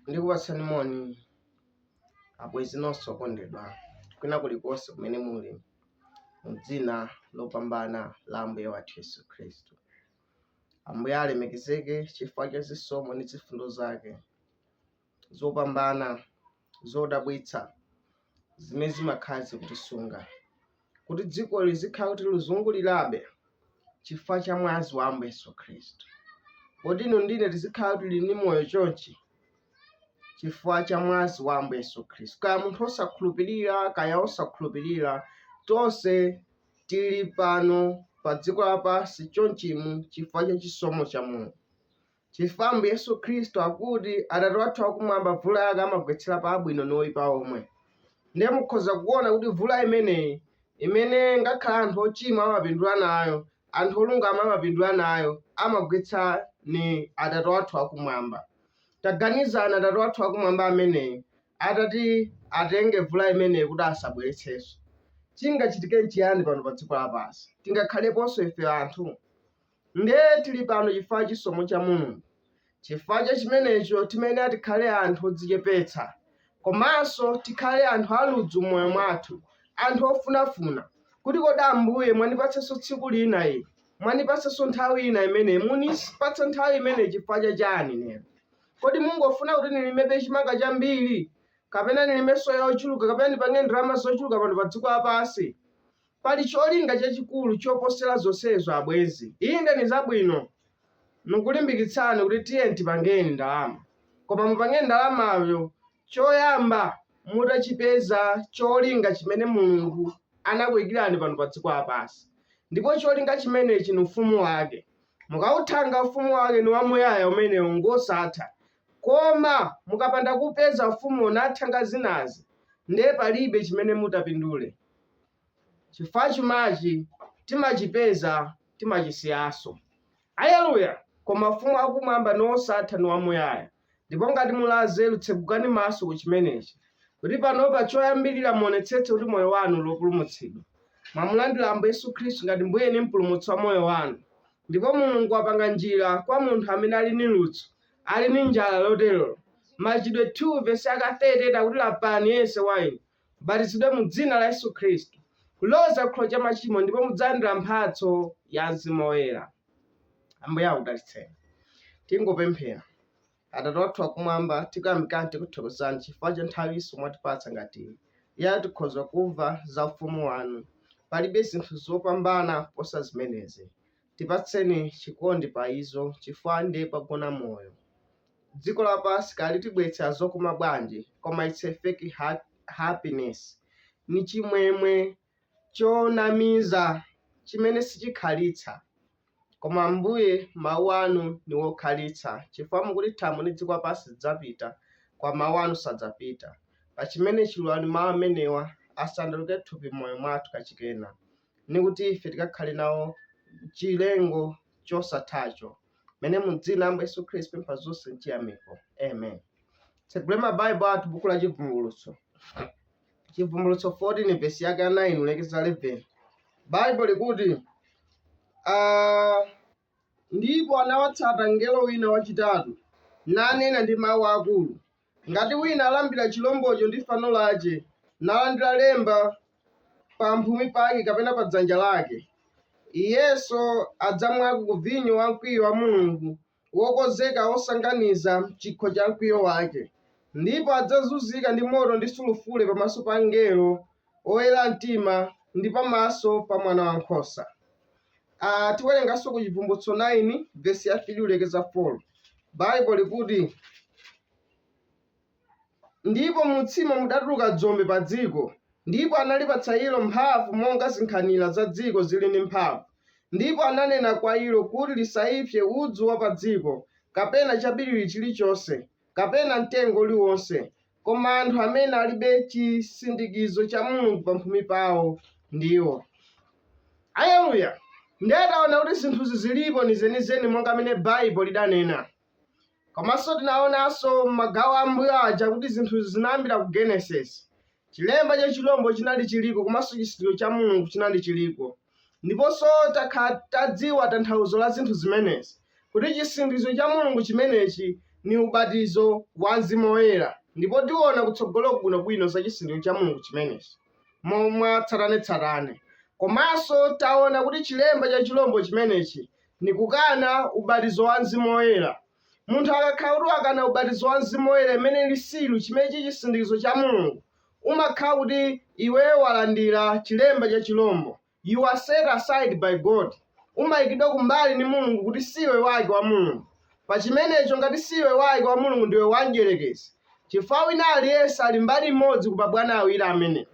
ndikupatsani moni abwenzi nonse okondedwa kwina kulikonse kumene muli mu dzina lopambana la ambuye wathu yesu khristu ambuye alemekezeke chifukwa cha zisomo ndi zifundo zake zopambana, zodabwitsa zimene zimakhala zikutisunga kuti dziko lizikhala kuti lizungulirabe chifukwa cha mwazi wa Ambuye Yesu Khristu. Kuti inu ndi ine tizikhala tili ndi moyo chonchi chifukwa cha mwazi wa Ambuye Yesu Khristu? Kaya munthu osakhulupirira, kaya osakhulupirira, tonse tili pano pa dziko lapansi chonchimu chifukwa cha chisomo cha Mulungu. Chifukwa Ambuye Yesu Khristu akuti, Atate wathu wakumwamba mvula yake amagwetsera pa abwino ndi oipa omwe. Ndiye mukhoza kuona kuti mvula imeneyi imene ngakhale anthu ochimwa amapindula nayo, anthu olungama amapindula nayo, amagwetsa ni Atate wathu wakumwamba. Taganizani Atate wathu wakumwamba ameneyi atati atenge mvula imeneyi kuti asabweretsenso. Chingachitike n'chiyani pano pa dziko lapansi? Tingakhaleponso ife anthu? Nde tili pano chifukwa chisomo cha Mulungu, chifukwa cha chimenecho timayenera tikhale anthu odzichepetsa komanso tikhale anthu a ludzu mmoyo mwathu, anthu ofunafuna kuti kodi Ambuye mwandipatsanso tsiku lina ili, mwandipatsanso nthawi ina imenei, mukunipatsa nthawi imenei chifukwa cha chani lero? Kodi mungofuna kuti nilimepo chimanga chambiri, kapena nilime soya ochuluka, kapena nipange ndalama zochuluka pano pa dziko lapansi? Pali cholinga chachikulu choposera zonsezo abwenzi. Inde nizabwino nikulimbikitsani kuti tiyeni tipangeni ndalama, koma mupange ndalamayo choyamba mutachipeza cholinga chimene Mulungu anakuikirani pano padziko lapansi. Ndipo cholinga chimenechi ni ufumu wake. Mukauthanga ufumu wake ni wamuyaya umenewo ngosatha. Koma mukapanda kuupeza ufumuwo n'kuthanga zinazi nde palibe chimene mutapindule. chifukwa chumachi timachipeza timachisiyanso. Aleluya! Koma ufumu wa kumwamba ni wosatha ni wamuyaya. Ndipo ngati muli anzeru tsegukani maso ku chimenechi, kuti panopa choyambirira muonetsetse kuti moyo wanu uli opulumutsidwa. Mwamulandira Ambuye Yesu Khristu ngati Mbuye ni Mpulumutsi wa moyo wanu. Ndipo Mulungu wapanga njira kwa munthu amene ali ni ludzu, ali ni njala loterolo. Machitidwe 2 vesi yake 38 akuti lapani yense wa inu, mubatizidwe mu Dzina la Yesu Khristu kuloza ku chikhululukiro cha machimo, ndipo mudzalandira mphatso ya Mzimu Woyera. Ambuye akudalitseni. Tingopemphera. Atate wathu wakumwamba, tikuyamikani tikuthokozani chifukwa cha nthawinso mwatipatsa ngati iyi. Iyo tikhoza kumva za ufumu wanu. Palibe zinthu zopambana kuposa zimenezi. Tipatseni chikondi pa izo chifukwa nde pagona moyo. Dziko lapasi kaya litibweretsera zokoma bwanji koma it's a fake happiness, ni chimwemwe chonamiza chimene sichikhalitsa. Koma Ambuye mau anu ni wokhalitsa chifukwa mukuti thambo ni dziko lapasi zidzapita koma mau anu sadzapita. Pachimenechi lolani mau amenewa asandulike thupi m'moyo mwathu kachikenanso. ni kuti ife tikakhale nawo chilengo chosatha chomwe mu dzina la Ambuye Yesu Khristu tapempha zonse mchiyamiko amen titsegule mabaibo athu buku la chivumbulutso chivumbulutso 14 vesi yake ya 9 kulekeza 11 baibo likuti ah, Ndipo anawatsata mngelo wina wacitatu, nanena ndi mau akuru, Ngati wina alambira ciromboco ndi fano lace, nalandira lemba pamphumi pake kapena pa dzanja lake, iyenso adzamwako ku vinyo wa mkwiyo wa Mulungu wokonzeka wosasanganiza m'cikho ca mkwiyo wace, ndipo adzazunzika ndi moto ndi sulufure pamaso pa angelo oyera mtima ndi pamaso pa Mwanawankhosa. a Tiwerenganso ku Chivumbulutso 9 vesi ya 3 kulekeza 4. Baibulo likuti, Ndipo m'utsimo mudatuluka dzombe pa dziko, ndipo analipatsa ilo mphamvu monga zinkhanira za dziko zili ndi mphamvu. Ndipo ananena kwa ilo kuti lisaipse udzu wa pa dziko, kapena chabiriwira chilichonse, kapena mtengo uliwonse, koma anthu amene alibe chisindikizo cha Mulungu pamphumi pawo ndiwo. Aleluya! Ndiye taona kuti zinthuzi zilipo ni zenizeni monga mmene Baibo lidanena. Komanso tinaonanso m'magawo ambuyo aja kuti zinthuzi zinayambira ku Genesis. Chilemba cha chirombo chinali chiriko komanso chisindikizo cha Mulungu chinali chiriko. Ndiponso takhala tadziwa tanthauzo la zinthu zimenezi, kuti chisindikizo cha Mulungu chimenechi ni ubatizo wa mzimu woyela. Ndipo tiona kutsogoloku bwino-bwino za chisindikizo cha Mulungu chimenechi mwa tsatane-tsatane. Komanso taona kuti chilemba cha chirombo chimenechi ni kukana ubatizo wa mzimu woyela. Munthu akakhala kuti wakana ubatizo wa Mzimu Woyera imene ili silu chimene chili chisindikizo cha Mulungu, umakhala kuti iwe walandira chilemba cha chilombo. You are set aside by God. Umayikidwa kumbali ni Mulungu kuti siwe wake wa Mulungu. Pa chimenecho ngati siwe wake wa Mulungu ndiwe wa mdyerekezi. Chifukwa wina aliyense ali mbali imodzi ku mabwana awiri amenewa.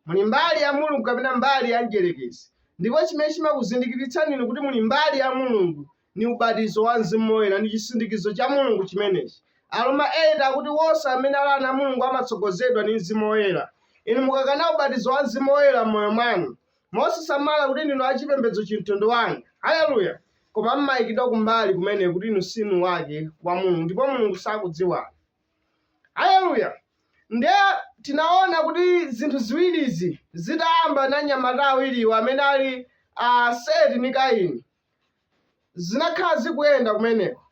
Muli mbali ya Mulungu kapena mbali ya mdyerekezi. Ndipo chimene chimakuzindikiritsani inu kuti muli mbali ya Mulungu Ni ubatizo wa mzimu woyela ni cisindikizo ca Mulungu cimeneci. Aroma 8 akuti wonse amene ali ana a Mulungu amatsogozedwa ni mzimu woyela. Inu mukakana ubatizo wa mzimu woyela m'moyo mwanu, mosasamala kuti ndinu a cipembedzo cimtundu wanji, haleluya, koma m'maikidwa kumbali kumene kuti inu sinu wake wa Mulungu ndipo Mulungu sakudziwani. Haleluya! Ndiye tinaona kuti zinthu ziwilizi zitayamba na anyamata awiliwo amene ali a Seti ni Kaini, zinakhala zikuyenda kumeneko,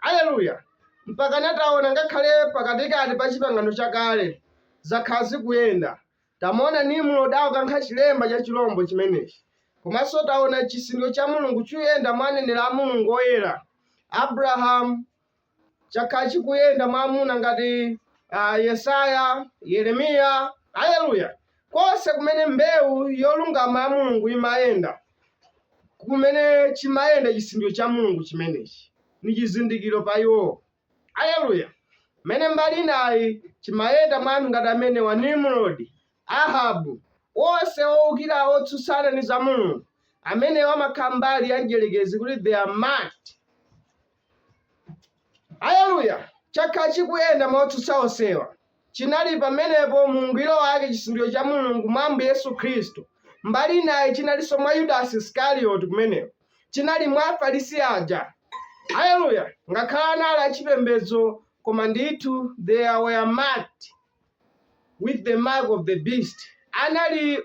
aleluya, mpakana taona ngakhale pakatikati pa Chipangano Chakale zakhala zikuyenda. Tamuona Nimrod akukankha chilemba cha chilombo chimenechi, komanso taona chisindikizo cha Mulungu chikuyenda mwa aneneri a Mulungu oyera, Abrahamu, chakhala chikuyenda mwa amuna ngati uh, Yesaya, Yeremiya, aleluya, konse kumene mbewu yolungama ya Mulungu imayenda, kumene chimayenda chisindikizo cha Mulungu chimenechi ni chizindikiro pa iwo, aleluya. Mene mbali inayi chimayenda mwa anthu ngati amenewa, Nimrodi, Ahabu, onse owukira otsutsana ni za Mulungu, amenewa amakhala mbali ya mdyerekezi kuti they are marked Aleluya! Chakhala chikuyenda mwa otsutsa onsewa, chinali pamenepo mu ungwiro wake chisindikizo cha Mulungu mwa Ambuye Yesu Khristu, mbali inayi chinalinso mwa Yudasi Iskarioti kumeneko, chinali mwa Afarisi aja. Aleluya! Ngakhale anali achipembedzo, koma ndithu they were marked with the mark of the beast, anali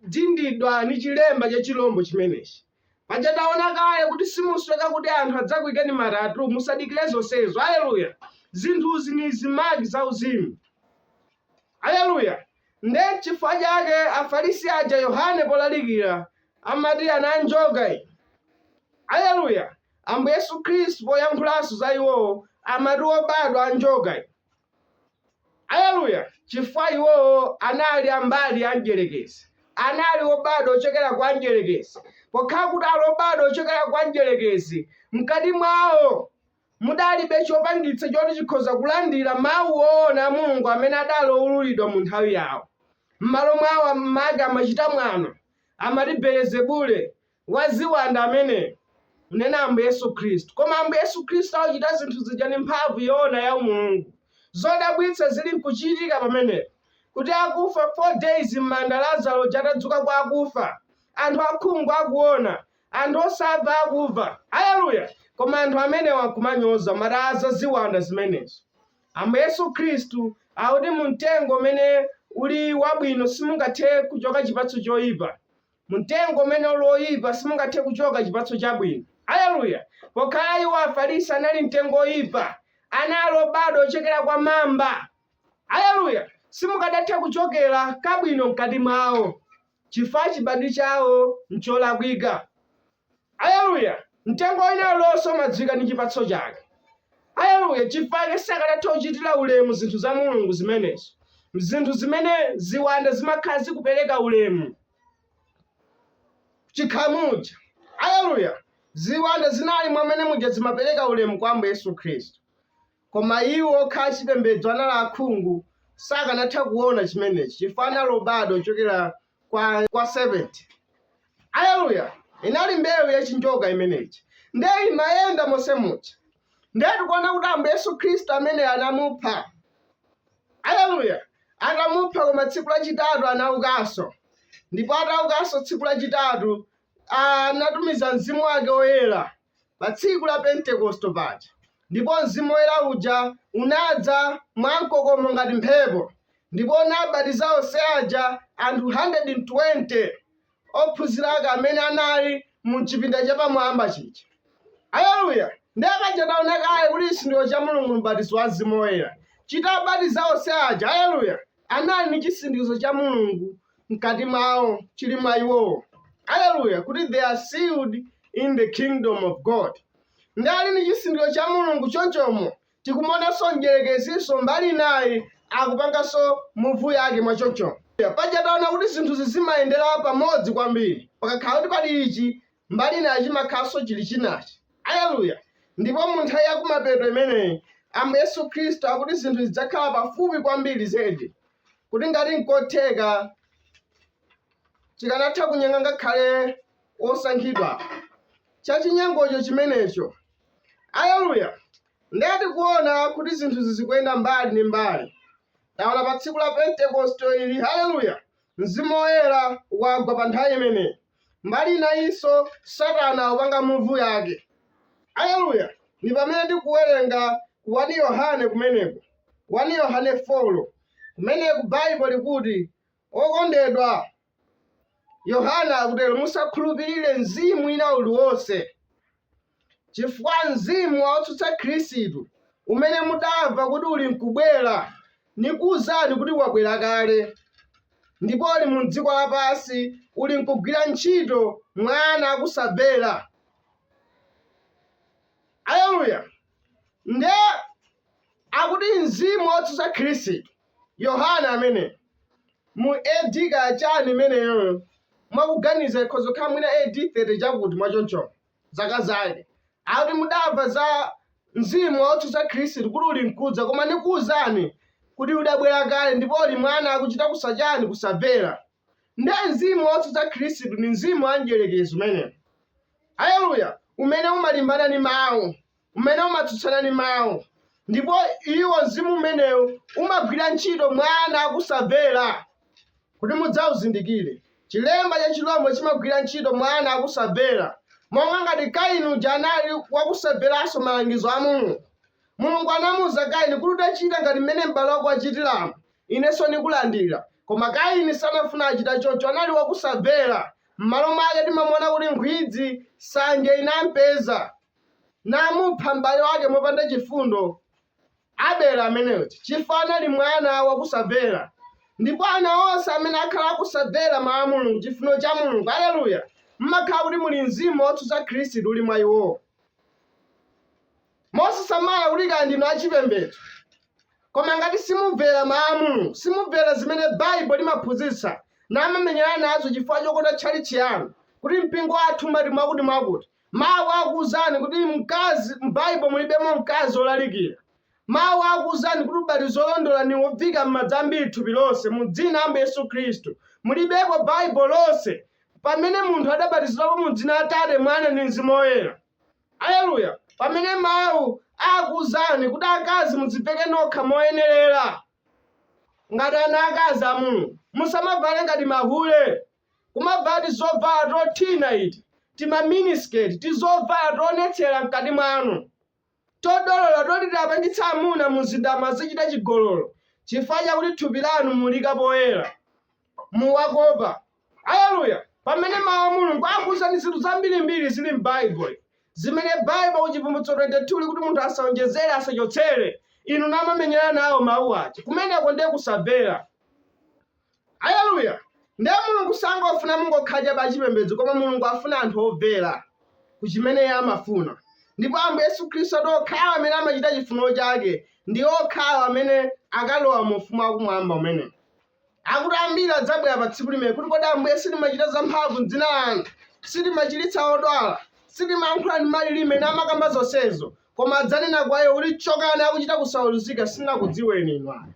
odindidwa ndi chilemba cha chilombo chimenechi. Paja taona kale kuti simusoweka kuti anthu adzakuikeni ma tattoo, musadikire zonsezo. Aleluya! Zinthuzi ni zimaki zauzimu. Aleluya! Nde chifukwa chake Afarisi aja Yohane polalikira amati ana a njoka iyi. Aleluya! Ambuye Yesu Khristu poyankhulanso za iwowo amati obadwa a njoka iyi. aleluya chifukwa iwowo anali ambali ya mdyerekezi anali obadwa ochokera kwa mdyerekezi pokhala kuti ali obadwa ochokera kwa mdyerekezi mkati mwawo mudalibe chopangitsa choti chikhoza kulandira mawu oona a mulungu amene adali owululidwa mu nthawi yawo m'malo mwawo amake amachita mwano amati belezebule waziwanda ameneyo. Kunena Ambuye Yesu Khristu. Koma Ambuye Yesu Khristu akuchita zinthu zija ndi mphamvu yoona ya Mulungu. Zodabwitsa zili nkuchitika pamenepo. Kuti akufa 4 days mmanda Lazaro uja atadzuka kwa akufa. Anthu akhungu akuona. Anthu osamva akumva. Haleluya! Koma anthu amenewa nkumanyoza amati zaziwanda zimenezo. Ambuye Yesu Khristu akuti mu mtengo umene uli wabwino simungathe kuchoka chipatso choyipa. Mumtengo umene uli woyipa simungathe kuchoka chipatso chabwino. Aleluya! Pokhala iwo, Afarisi, anali mtengo woyipa, anali obadwa ochokera kwa mamba, aleluya, simukadatha kuchokera kabwino mkati mwawo, chifukwa chibadwi chawo n'cholakwika. Aleluya! Mtengo wina uliwonse umadziwika ndi chipatso chake. Aleluya! Chifukwa chake sakanatha kuchitira ulemu zinthu za Mulungu zimenezo, zinthu zimene ziwanda zimakhala zikupereka ulemu chikhamuja. Aleluya! Ziwanda zinali mwamene muja zimapereka ulemu kwa Ambuye Yesu Khristu, koma iwo okhala achipembedzo anali akhungu, sakanatha kuona chimenechi chifukwa anali obadwa ochokera kwa serpent aleluya inali mbewu ya chinjoka imeneyi nde imayenda monse muja nde tikuona kuti ambuye yesu khristu ameneyu anamupha aleluya atamupha koma tsiku lachitatu anaukanso ndipo ataukanso tsiku lachitatu anatumiza Mzimu wake Woyera pa tsiku la Pentekosto paja, ndipo Mzimu Woyera uja unadza mwamkokomo ngati mphepo, ndipo unabatiza onse aja anthu 120 ophunzira ake amene anali mu chipinda chapamwamba chija. Aleluya! Ndiye paja taona kale kuti chisindikizo cha Mulungu, m'batizo wa Mzimu Woyera, chitabatiza onse aja. Aleluya! anali ndi chisindikizo cha Mulungu mkati mwawo, chili mwa iwowo. Haleluya! Kuti they are sealed in the kingdom of God. Ndi ali ndi chisindikizo cha Mulungu chonchomo tikumuonanso mdyerekezinso mbali inayi akupanganso muvu yake mwa chonchomo. Paja taona kuti zinthuzi zimayendera pamodzi kwambiri. Pakakhala kuti pali ichi, mbali inayi chimakhalanso chili chinachi. Aleluya! Ndipo mu nthawi ya kumapeto imeneyi, Ambuye Yesu Khristu akuti zinthu zidzakhala pafupi kwambiri zedi kuti ngati nkotheka chikanatha kunyenga ngakhale osankhidwa chachinyengocho chimenecho. Aleluya! Ndiye tikuona kuti zinthuzi zikuyenda mbali ndi mbali. Taona pa tsiku la Pentekoste ili, haleluya, mzimu woyera wagwa pa nthawi imeneyi. mbali inayinso satana akupanga muvu yake aleluya ndi pamene tikuwerenga 1 yohane kumeneko 1 yohane 4 kumeneku baibulo likuti okondedwa yohane akutero musakhulupirire mzimu ina uliwonse Chifukwa mzimu wa wotsutsa Khristu umene mudamva kuti ulinkubwera, nikuuzani kuti wabwera kale, ndipo uli mu dziko lapansi, ulinkugwira ntchito mwa ana akusamvera. Aleluya! Ndiye akuti mzimu wotsutsa Khristu, Yohane ameneyo, mu A.D. kaya chani imeneyo, mwakuganiza ikhoza kukhala mwina A.D. 30 chakuti, mwachonchono. zaka zake. Akuti mudamva za mzimu wotsutsa Khristu kuti uli mkudza, koma ndikuwuzani kuti udabwera kale ndipo uli mwa ana akuchita kusachani kusamvera. Nde mzimu wotsutsa Khristu ndi mzimu wa mdyerekezi umenewu. Aleluya! Umene umalimbana ndi mawu. umene umatsutsana ndi Mawu, ndipo iwo, mzimu umenewo umagwira ntchito mwa ana akusamvera, kuti mudzauzindikire. Chilemba cha chirombo chimagwira ntchito mwa ana akusamvera, monga ngati Kaini uja anali wakusamveranso malangizo a Mulungu. Mulungu anamuwuza Kaini kuti utachita ngati mmene m'bale wako wachitiramu, inenso ndikulandira. Koma Kaini sanafuna achita choncho, anali wakusamvera. M'malo mwake timamuona kuti nkhwidzi, sanje inampeza. namupha m'bale wake mopanda chifundo abele ameneyo chifukwa anali mwana wakusamvera ndipo ana onse amene akhala akusamvera mawu a mulungu chifuniro cha mulungu aleluya mmakhala kuti muli mzimu wotsutsa khristu uli mwa iwowo mosasamala kuti kaya ndinu achipembedzo koma ngati simumvera mawu a mulungu simumvera zimene baibo limaphunzitsa namamenyana nazo chifukwa chokonda tchalitchi yanu kuti mpingo wathu umati mwakuti mwakuti Mawu akuuzani kuti mkazi, m'Baibo mulibemo mkazi wolalikira. Mawu akuuzani kuti ubatizo wolondola ni woviika m'madzi ambiri thupi lonse, mu dzina la Ambuye Yesu Khristu. Mulibeko m'Baibo lonse pamene munthu adabatizidwapo mu dzina la Atate, Mwana, ndi Mzimu Woyera. Aleluya! Pamene Mawu akuuzani kuti akazi mudziveke nokha moyenerera ngati ana akazi a Mulungu, musamavale ngati mahule. kumavala tizovala tothina iti, tima miniskirt, tizovala toonetsera mkati mwanu, todolola toti tapangitsa amuna mu mzindamu azichita chigololo, chifukwa chakuti thupi lanu mulika poyera, muwakopa. Aleluya! Pamene Mawu a Mulungu akuuzani zinthu zambirimbiri zili m'Baibulo, zimene Baibulo ku Chivumbulutso 22 likuti munthu asaonjezere, asachotsere, inu namamenyana nawo Mawu aja, kumeneko ndiye kusamvera. Aleluya! Ndiye Mulungu sangofuna mungokhala chabe achipembedzo koma Mulungu afuna anthu omvera ku chimene Iye amafuna. Ndipo Ambuye Yesu Khristu ati okhawo amene amachita chifuniro chake ndi okhawo amene akalowa mu ufumu wakumwamba umene. Akuti ambiri adzabwera pa tsiku limene kuti kodi Ambuye sitimachita zamphamvu m'dzina lanu, sitimachiritsa odwala, sitimayankhula ndi malilime ena namakamba zonsezo, koma adzanena kwa iwo kuti chokani akuchita kusaweruzika sindinakudziweni inu ayi.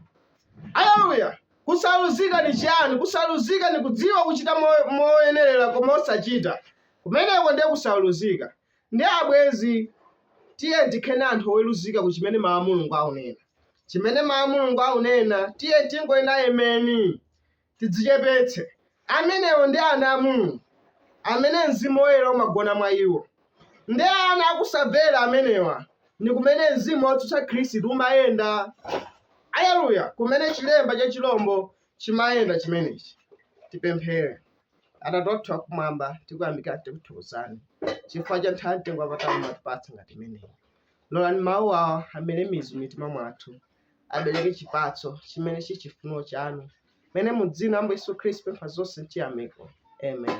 Aleluya! Kusaweluzika ni ciani? Kusaweluzika ni kudziwa kucita moyenelela koma osacita. Kumeneko ndiye kusaweluzika. Ndiye abwenzi, tiyeni tikhale anthu oweluzika ku cimene Mau a Mulungu aunena. Cimene Mau a Mulungu aunena, tiyeni tingonena Emeni! Tidzicepetse. Amenewo ndi ana a Mulungu, amene Mzimu Woyela umagona mwa iwo. Ndi ana a kusamvera amenewa ndi kumene mzimu wotsutsa Khristu umayenda. Aleluya! Kumene chilemba cha chirombo chimayenda chimenechi. Tipemphere. Atate wathu wakumwamba, tikuyamikani tikuthokozani chifukwa cha nthawi mtengo wapatali mwatipatsa ngati imeneyi. Lolani mawu awa amere mizu m'mitima mwathu abereke chipatso chimene chiri chifuno chanu mene mu dzina la Yesu Khristu pempha zonse chiyamiko. Amen.